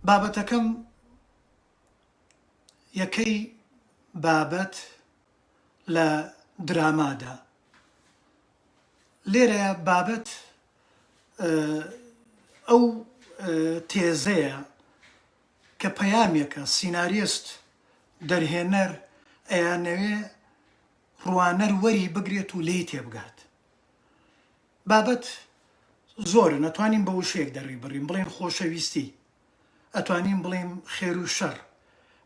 بابەتەکەم یەکەی بابەت لە درامادا لێرە بابەت ئەو تێزەیە کە پەیامێکە سیناریست دەرهێنەر ئەیانەوێ ڕوانەر وەری بگرێت و لی تێبگات بابەت زۆر نەتوانین بە وشێک دەڕی بڕین بڵێن خۆشەویستی ئەتوانین بڵێین خێر و شەڕ،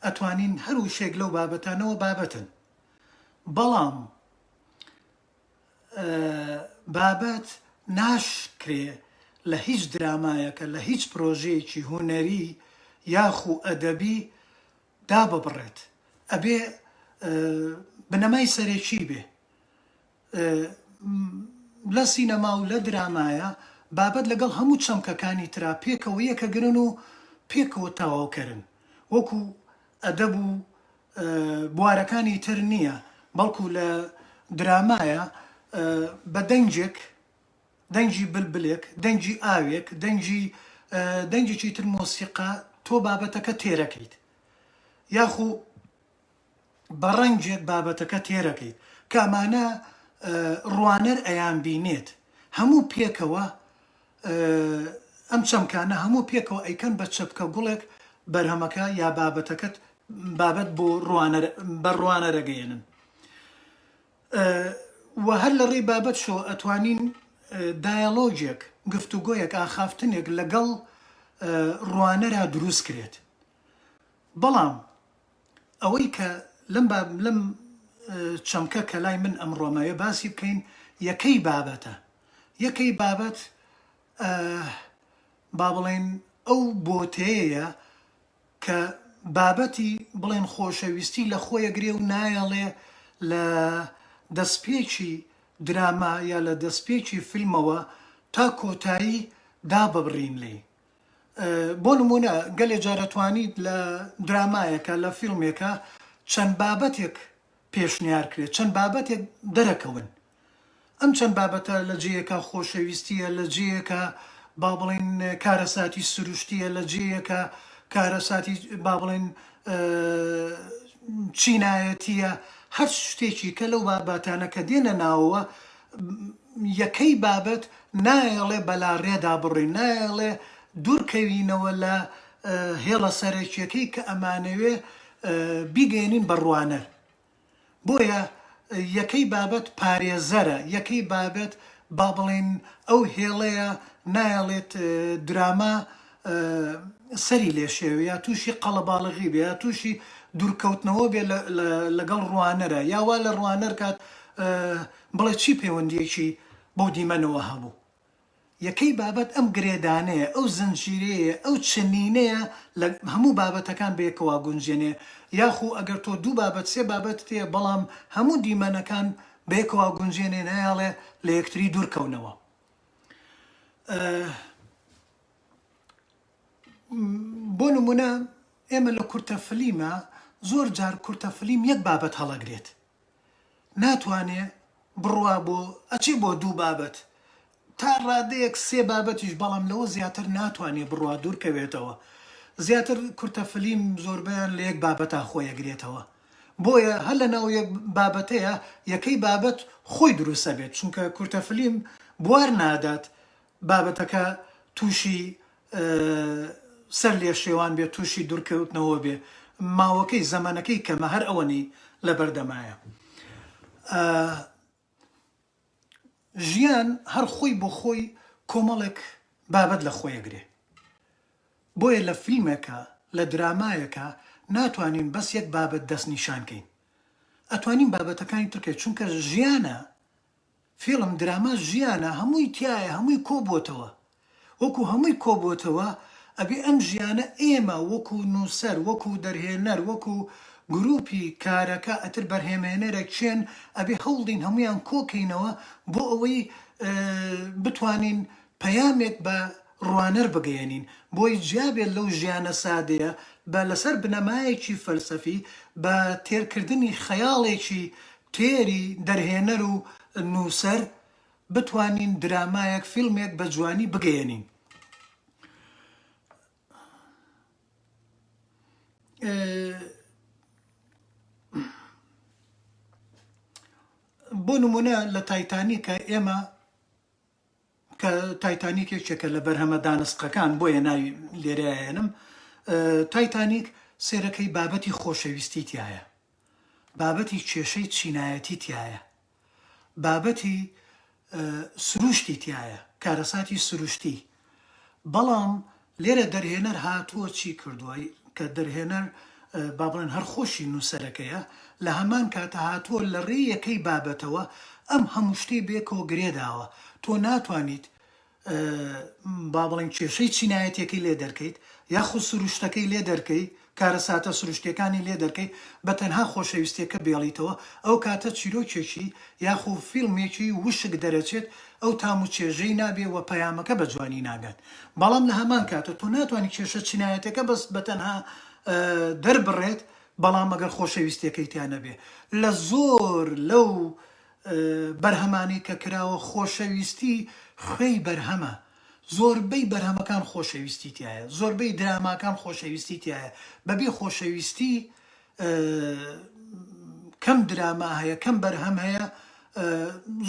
ئەتوانین هەر وشەیەک لەو بابەتانەوە بابەتن، بەڵام بابەت ناشکرێ لە هیچ درامایەکە، لە هیچ پرۆژەیەکی هونەری یاخو ئەدەبی داببڕێت، ئەبێ بنەمای سەرەکی بێ. لە سینەما و لە درامایا بابەت لەگەڵ هەموو چەمکەکانی ترا پێکەوە یەکەگرن و پێکەوە تەواوکەرن، وەکو ئەدەب و بوارەکانی تر نییە، بەڵکو لە درامایا بە دەنگێک، دەنگی بلبلێک، دەنگی ئاوێک، دەنگی دەنگێکی تر مۆسیقا تۆ بابەتەکە تێرەکەیت، یاخو. بە ڕەنگێک بابەتەکە تێرەکەیت کامانە ڕوانەر ئەیان بینێت هەموو پێکەوە ئەم چەمکانە هەموو پێکەوە ئەیکەن بە چەپکە گوڵێک بەرهەمەکە یا بابەتەکەت بابەت بۆ ڕوانەر بە ڕوانەرەگەیەنن و هەر لە ڕێی بابەت شۆ ئەتوانین دایەڵۆجێک گفتوگۆیەک ئاخافتنێک لەگەڵ ڕوانەرا دروست کرێت بەڵام ئەوەی کە لەم با لەم چەمکە کە لای من ئەمڕۆمەوێ باسی بکەین یەکەی بابەتە یەکەی بابەت با بڵێن ئەو بۆتەیە کە بابەتی بڵێن خۆشەویستی لە خۆیە گرێ و نایەڵێ لە دەستپێکی دراما یا لە دەستپێکی فیلمەوە تا کۆتایی داببڕین لێی بۆ نموونە گەلێ جار ئەتوانیت لە درامایەکا، لە فیلمێکا چەند بابەتێک پێشنیار کرێت، چەند بابەتێک دەرەکەون، ئەم چەند بابەتە لە جێیەکا خۆشەویستییە، لە جێیەکا با بڵێین کارەساتی سروشتییە، لە جێیەکا کارەساتی با بڵێین چینایەتییە، هەر شتێکی کە لەو بابەتانە کە دێنە ناوەوە یەکەی بابەت نایەڵێ بەلاڕێدا بڕۆین، نایەڵێ دوورکەوینەوە لە هێڵە سەرەکییەکەی کە ئەمانەوێ بیگەیەنین بە ڕوانەر. بۆیە یەکەی بابەت پارێزەرە، یەکەی بابەت با بڵێین ئەو هێڵەیە نایەڵێت دراما، سەری لێ شێوێ یا تووشی قەڵەباڵغی بێ یا تووشی دوورکەوتنەوە بێ لەگەڵ ڕوانەرە یا وا لە ڕوانەر کات بڵێ چی پەیوەندیەکی بەو دیمەنەوە هەبوو یەکەی بابەت ئەم گرێدانەیە ئەو زنجیرەیە ئەو چنینەیە لە هەموو بابەتەکان بێکەوە گونجێنێ یاخو ئەگەر تۆ دوو بابەت سێ بابەت تێ بەڵام هەموو دیمەنەکان بێکەوە گونجێنێ نایاڵێ لە یەکتری دوورکەونەوە. بۆ نموونە ئێمە لە کورتە فلیمە زۆر جار کورتە فلیم یەک بابەت هەڵەگرێت ناتوانێ بڕوا بۆ ئەچێ بۆ دوو بابەت تا ڕادەیەک سێ بابەتیش بەڵام لەوە زیاتر ناتوانێ بڕوا دوورکەوێتەوە زیاتر کورتە فلیم زۆربیان لە یەک بابەتا خۆیەگرێتەوە بۆیە هەر لە ناو یەک بابەتەیە یەکەی بابەت خۆی دروستە بێت چونکە کورتە فلیم بوار نادات بابەتەکە تووشی سەر لێشێوان بێ تووشی دوورکەوتنەوە بێ ماوەکەی زەمەنەکەی کەمە هەر ئەوەنەی لەبەردەمایە ژیان هەر خۆی بۆ خۆی کۆمەڵێک بابەت لە خۆیە گرێ بۆیە لە فیلمێکە لە درامایەکە ناتوانین بەس یەک بابەت دەست نیشانکەین ئەتوانین بابەتەکانی ترکێ چونکە ژیانە فیڵم دراما ژیانە هەمووی تیایە هەمووی کۆ بۆتەوە وەکو هەمووی کۆ بۆتەوە ئەبێ ئەم ژیانە ئێمە وەکو نوسەر وەکو دەرهێنەر وەکو گروپی کارەکە ئەتر بەرهێمێنەرە کێن ئەبێ هەوڵدین هەموویان کۆ کەینەوە بۆ ئەوەی بتوانین پەیامێک بە ڕوانەر بگەیەنین بۆی جیابێت لەو ژیانە سادەیە بە لەسەر بنەمایەکی فەلسەفی بە تێرکردنی خەیاڵێکی تێری دەرهێنەر و نووسەر بتوانین درامایەک فیلمێک بە جوانی بگەیەنین بۆ نموونە لە تایتانیکە ئێمە کە تایتانیک یەکێکە لە بەرهەمە دانسقەکان بۆیە ناوی لێرە ئەهێنم تایتانیک سێرەکەی بابەتی خۆشەویستی تایە بابەتی کێشەی چینایەتی تایە بابەتی سروشتی تایە کارەساتی سروشتی بەڵام لێرە دەرهێنەر هاتووە چی کردووە، کە دەرهێنەر با بڵێن هەر خۆشی نووسەرەکەیە، لە هەمان کاتە هاتووە لە ڕێی یەکەی بابەتەوە ئەم هەموو شتەی بەیەکەوە گرێ داوە. تۆ ناتوانیت با بڵێین کێشەی چینایەتییەکەی لێ دەرکەیت، یاخود سروشتەکەی لێ دەرکەیت، کارەساتە سروشتیەکانی لێ دەرکەی بە تەنها خۆشەویستیەکە بێڵیتەوە ئەو کاتە چیرۆکێکی یاخو فیلمێکی وشک دەرەچێت ئەو تام و چێژەی نابێ وە پەیامەکە بە جوانی ناگات بەڵام لە هەمان کاتە تۆ ناتوانی کێشە چینایەتەکە بەس بە تەنها دەربڕێت بەڵام ئەگەر خۆشەویستیەکەی تیا نەبێ لە زۆر لەو بەرهەمانەی کە کراوە خۆشەویستی خوێی بەرهەمە زۆربەی بەرهەمەکان خۆشەویستی تیایە زۆربەی دراماکان خۆشەویستی تیایە بەبی خۆشەویستی کەم دراما هەیە کەم بەرهەم هەیە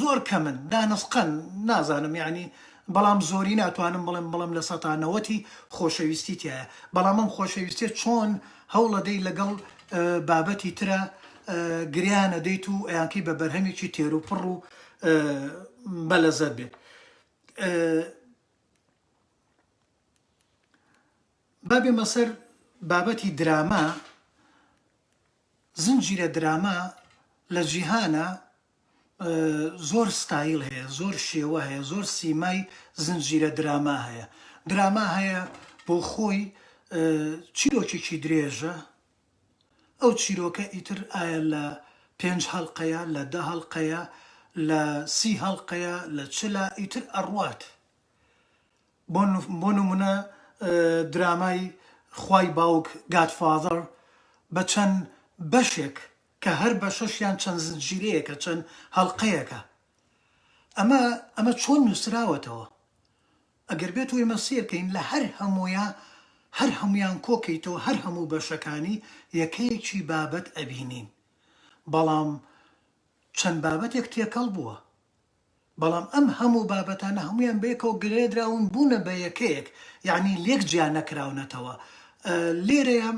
زۆر کەمن دانسقەن نازانم یعنی بەڵام زۆری ناتوانم بڵێم بڵم لە سەتا نەوەتی خۆشەویستی تایە بەڵام ئەم خۆشەویستێ چۆن هەوڵەدەی لەگەڵ بابەتی ترە گریانە دەیت و ئەیانکەی بە بەرهەمێکی تێروپڕ و بەلەزەت بێت با بێمە سەر بابەتی دراما زنجیرە دراما لە جیهانە زۆر ستایل هەیە زۆر شێوە هەیە زۆر سیمای زنجیرە دراما هەیە دراما هەیە بۆ خۆی چیرۆکێکی درێژە ئەو چیرۆکە ئیتر ئایا لە پێنج هەڵقەیە لە دە هەڵقەیە لە سی هەڵقەیە لە چلە ئیتر ئەڕوات بۆ نمونە درامای خوای باوک گاد فاذەر بە چەند بەشێک کە هەر بەشەشیان چەند زنجیرەیەکە چەند هەڵقەیەکە ئەمە ئەمە چۆن نوسراوەتەوە ئەگەر بێت و ئێمە سەیر کەین لە هەر هەموویا هەر هەموویان کۆ کەیتەوە هەر هەموو بەشەکانی یەکەیەکی بابەت ئەبینین بەڵام چەند بابەتێک تێکەڵ بووە بەڵام ئەم هەموو بابەتانە هەموویان بەیەکەوە گرێدراون بوونە بە یەکەیەک یعنی لێک جیا نەکراونەتەوە لێرەیە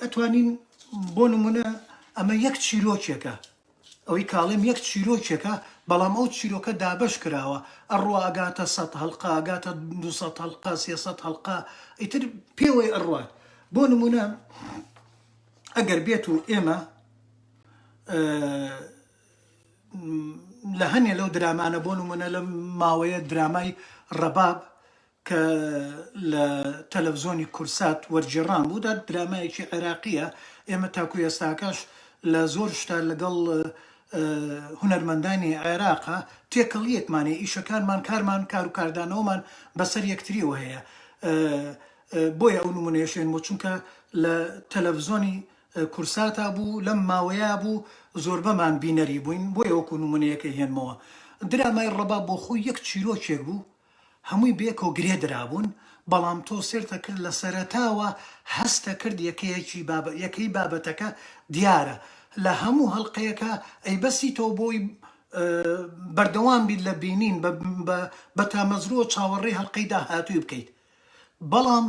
ئەتوانین بۆ نمونە ئەمە یەک چیرۆکێکە. ئەوەی کاڵێم یەک چیرۆکێکە بەڵام ئەو چیرۆکە دابەش کراوە ئەڕوا ئەگاتە سەد هەڵقە ئەگاتە دوو سەد هەڵقە سێ سەد هەڵقە ئیتر پێوەی ئەڕوات بۆ نمونە ئەگەر بێت و ئێمە لە هەنێ لەو درامانە بۆ نمونە لە ماوەیە درامای ڕەباب کە لە تەلەڤزۆنی کوردسات وەرگێڕان بوو، دا درامایەکی عێراقییە، ئێمە تاکو ئێستاکەش لە زۆر شتا لەگەڵ هونەرمەندانی عێراق تێکەڵییەکمان هەیە، ئیشەکانمان، کارمان، کار و کاردانەوەمان بە سەر یەکترییەوە هەیە، بۆیە ئەو نموونەیەش هێنمەوە، چونکە لە تەلەڤزۆنی کوردساتا بوو، لەم ماوەیە بوو زۆربەمان بینەری بووین، بۆیە وەکو نموونەیەکەی هێنمەوە، درامای ڕەباب بۆ خۆی یەک چیرۆکێک بوو، هەمووی بێکۆ گرێ درابوون بەڵام تۆ سێرتە کرد لە سەرەتاوە هەستە کرد یەکەیەکی بابە یەکەی بابەتەکە دیارە لە هەموو هەڵقەیەکە ئەی بەسی تۆ بۆی بەردەوام بیت لە بینین بە تامەزروە چاوەڕێی هەڵقەی داهاتووی بکەیت بەڵام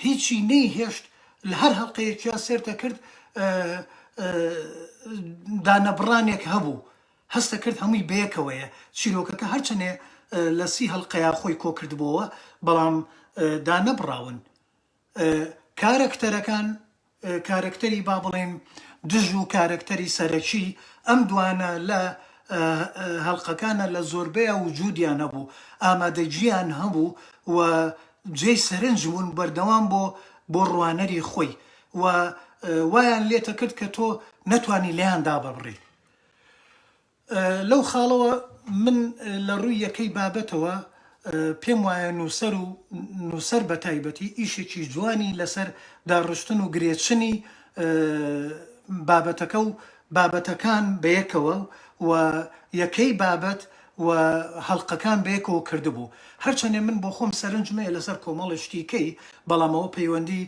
هیچی نەی هێشت لە هەر هەڵقەیەکیا سێرتە کرد دانەبڕانێک هەبوو هەستەکرد هەمووی بەیەکەوەیە، چیرۆکەکە هەرچەنێ لە سی هەڵقەیا خۆی کۆکردبۆوە بەڵام دانەبڕاون. کارەکتەرەکان، کارەکتەری با بڵێین دژ و کارەکتەری سەرەکی، ئەم دوانە لە هەڵقەکانا لە زۆربەیا وجودیان هەبوو، ئامادەگیان هەبوو و جێی سەرنج بوون بەردەوام بۆ بۆ ڕوانەری خۆی و وایان لێتەکرد کە تۆ نەتوانی لێیان داببڕی. لەو خاڵەوە من لە ڕووی یەکەی بابەتەوە پێم وایە نووسەر و نووسەر بە تایبەتی ئیشێکی جوانی لەسەر داڕشتن و گرێچنی بابەتەکە و بابەتەکان بەیەکەوە و یەکەی بابەت و هەڵقەکان بەیەکەوە کردبوو هەرچەنێ من بۆ خۆم سەرنجم هەیە لەسەر کۆمەڵێ شتی کەی بەڵام ئەوە پەیوەندی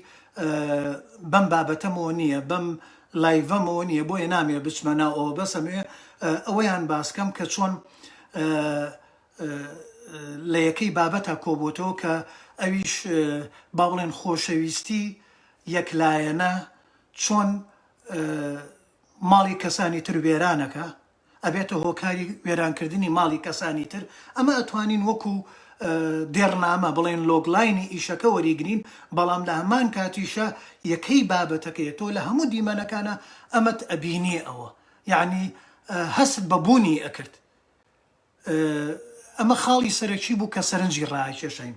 بەم بابەتەمەوە نییە بەم لایڤم و نیە بۆیە نامێ بچمە ناو ئەوە بەس ئەموێ ئەوەیان باس کەم کە چۆن لە یەکەی بابەتا کۆبۆتەوە کە ئەویش با بڵێن خۆشەویستی یەک لایەنە چۆن ماڵی کەسانی تر وێرانەکە ئەبێتە هۆکاری وێرانکردنی ماڵی کەسانی تر، ئەمە ئەتوانین وەکو دێڕنامە بڵێین لۆگلاینی ئیشەکە وەریگرین، بەڵام لە هەمان کاتیشا یەکەی بابەتەکەیە، تۆ لە هەموو دیمەنەکانا ئەمەت ئەبینیێ ئەوە یەعنی هەستت بە بوونی ئەکرد ئەمە خاڵی سەرەکی بوو کە سەرنجی ڕائەکێشاین.